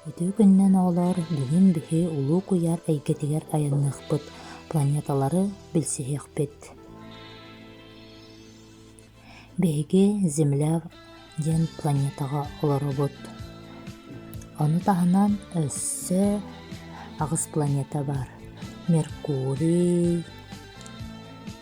Ити күннэн оҕолор бүгүн биһи Улуу Куйаар эйгэтигэр айанныахпыт, планеталары билсиһиэхпит. Биһиги Земля диэн планетаҕа олоробут. Ону таһынан өссө аҕыс планета бар. Меркурий,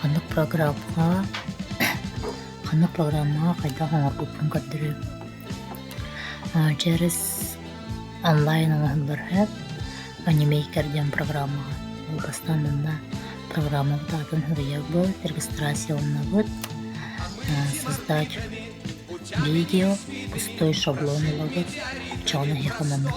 Ханнык программаҕа ханнык программаҕа хайдах оҥорбуппун көрдөрүүй? Дьэрис онлайн оҥоһуллар Анимейкер диэн программаҕа. Ол бастаан манна программабыт аатын суруйабыт, регистрацияланабыт, создать видео, пустой шаблон ылабыт, чаҕын эһиэхэ маннык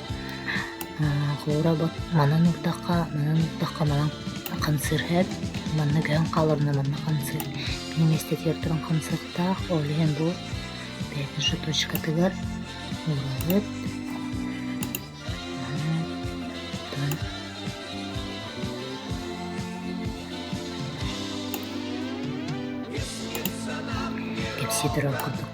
Куура бу манан ырдахха, манан ырдахха манан хамсыырһыт, манна көһөн хааларына манна хамсыыр. Мин миэстэтигэр туран хамсыахтаах, ол иһин бу пятничная точкатыгар уурабыт. Кэпсии турар курдук.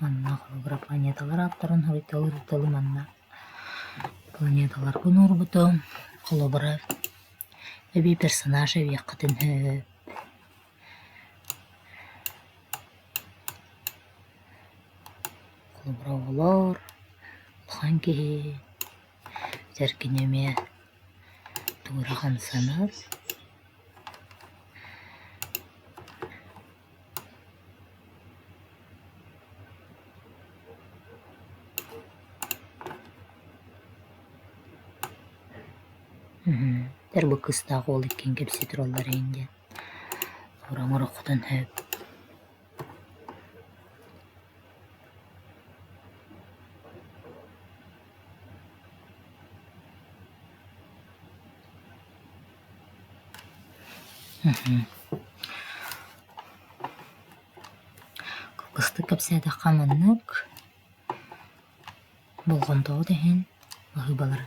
Манна холобура планеталар ааптарын хоруйдалыыр тылы манна планеталарга уnuурбута, холобура эбии персонаж эбиэххитин сөп. Холобура оҕолор, улахан киһи, сэргини эмиэ тугу эрэ хамсанар. Эрбо кыыстаах уол иккиэн кэпсии тураллар ээн диэн уран ороххутун сөп Кылгастык кэпсээтэххэ маннык болҕомтоҕут иһин баһыыбалары